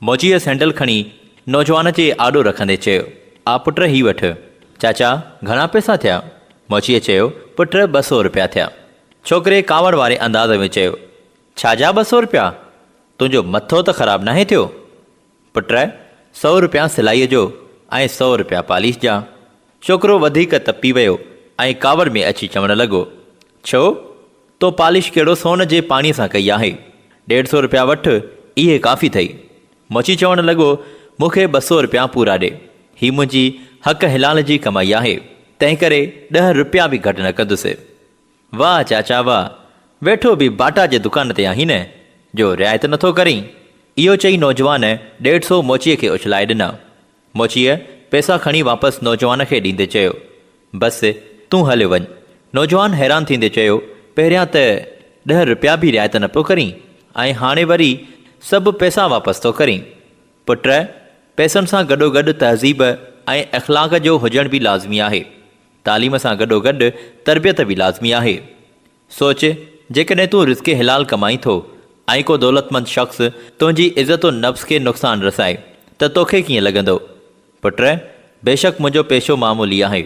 موچيء سينڊل کڻي نوجوان جي آڏو رکندي چيو، آ پٽ هي وٺ. چاچا، گهڻا پئسا ٿيا؟ موچيء چيو، پٽ ٻه سؤ رپيا ٿيا. ڇوڪري ڪاوڙ واري انداز ۾ چيو، ڇا جا ٻه سؤ رپيا؟ تنهنجو مٿو ته خراب ناهي ٿيو؟ پٽ، سؤ رپيا سلائيء جو ۽ سؤ رپيا پاليش جا. ڇوڪرو وڌيڪ تپي ويو ۽ ڪاوڙ ۾ اچي چوڻ لڳو، ڇو؟ تو پالش ڪهڙو سون جي پاڻيء سان ڪئي آهي؟ ڏيڍ سو رپيا وٺ، اهي ڪافي اٿئي. مچي چوڻ لڳو، مون کي ٻه سو رپيا پورا ڏي. هي منهنجي حق حلال جي ڪمائي آهي، تنهنڪري ڏهه رپيا به گهٽ نه ڪندس. واهه چاچا واهه، ويٺو به باٽا جي دڪان تي آهين نه، جو رعايت نٿو ڪرين؟ اهو چئي نوجوان ڏيڍ سو موچيء کي اڇلائي ڏنا. موچيء پئسا کڻي واپس نوجوان کي ڏيندي چيو، بس تون هليو وڃ. نوجوان حيران ٿيندي چيو، پهريان ته ڏهه رپيا به رعايت نه پيو ڪرين ۽ هاڻي وري سڀ پئسا واپس ٿو ڪرين. پٽ! پئسن سان گڏوگڏ تهذيب ۽ اخلاق جو هجڻ به لازمي آهي. تعليم سان گڏوگڏ تربيت به لازمي آهي. سوچ، جيڪڏهن تون رزق حلال ڪمائين ٿو ۽ ڪو دولتمند شخص تنهنجي عزت و نفس کي نقصان رسائي ته توکي ڪيئن لڳندو؟ پٽ، بيشڪ منهنجو پيشو معمولي آهي.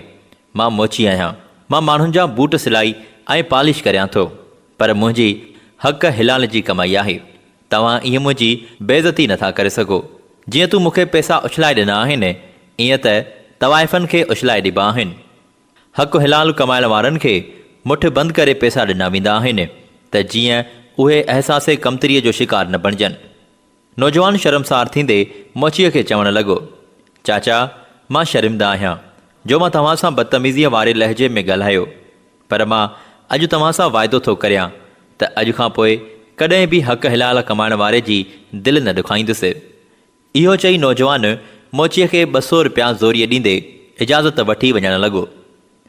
مان موچي آهيان. مان ماڻهن جا بوٽ سلائي ۽ پالش ڪريان ٿو. پر منهنجي حق حلال جي ڪمائي آهي. توهان ائين منهنجي بيعزتي نٿا ڪري سگهو. جيئن تون مون کي پيسا اڇلائي ڏنا آهن، ائين ته طوائفن کي اڇلائي ڏبا آهن. حق حلال ڪمائڻ وارن کي مٺ بند ڪري پئسا ڏنا ويندا آهن ته جيئن اهي احساس ڪمتريء جو شڪار نه بڻجن. نوجوان شرمسار ٿيندي موچيء کي چوڻ لڳو، چاچا مان شرمنده آهيان جو مان توهان سان بدتميزيء واري لهجي ۾ ڳالهايو، پر مان اڄ توهان سان واعدو ٿو ڪريان ته اڄ کان پوء ڪڏهن به حق حلال ڪمائڻ واري جي دل نه ڏکائيندس. اهو چئي نوجوان موچيء کي ٻه سو رپيا زوريء ڏيندي اجازت وٺي وڃڻ لڳو.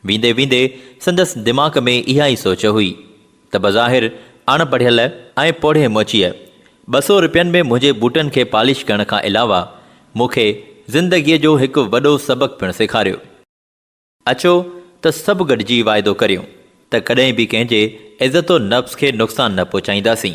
ويندي ويندي سندس دماغ ۾ اها ئي سوچ هئي ته بظاهر اڻ پڙهيل ۽ پوڙهي موچيء ٻه سو رپين ۾ منهنجي بوٽن کي پالش ڪرڻ کان علاوه مون کي زندگيء جو هڪ وڏو سبق پڻ سيکاريو. اچو ته سڀ گڏجي واعدو ڪريون ته ڪڏهن به ڪنهن جي عزت و نفس کي نقصان نه پهچائينداسين.